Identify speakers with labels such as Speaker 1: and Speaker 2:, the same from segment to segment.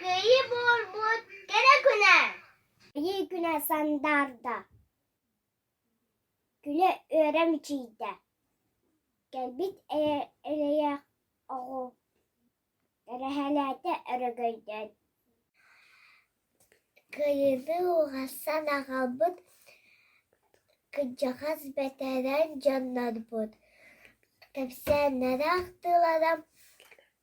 Speaker 1: Кыайыы буолбут кэрэ күнэ Кыайыы күнэ сандаарда Күнэ үөрэ мичийдэ Кэлбит эрэйэх оҕу Эрэһэлээтэ өрөгөйдөөн Кыайыыны уһасан аҕалбыт Кырдьаҕас бэтэрэн дьоннорбут Кэпсээннэрэ ахтыылара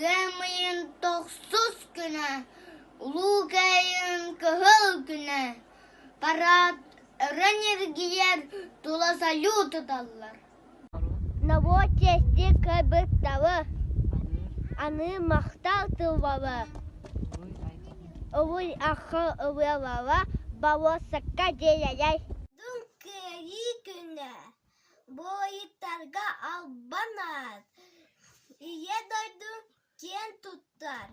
Speaker 1: Ыам ыйын тохсус күнэ, улуу кыайыын кыһыл күнэ, парад өрө ньиргийэр, тула салют ыталлар Новочести кыбыктабы, аны махтал тылбабы, Увуй ахы ыбыалаба, бабосакка диэйэйэй Буойуттарга албаннаат, Ийэ дойду киэн туттар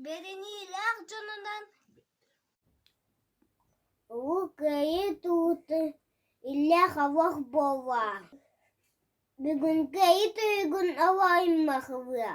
Speaker 1: бэриниилээх дьонунан Уу Кыайыы туута иллээх-авах буолуо, бүгүн кыайыы туйугун оһоойуммахыһыа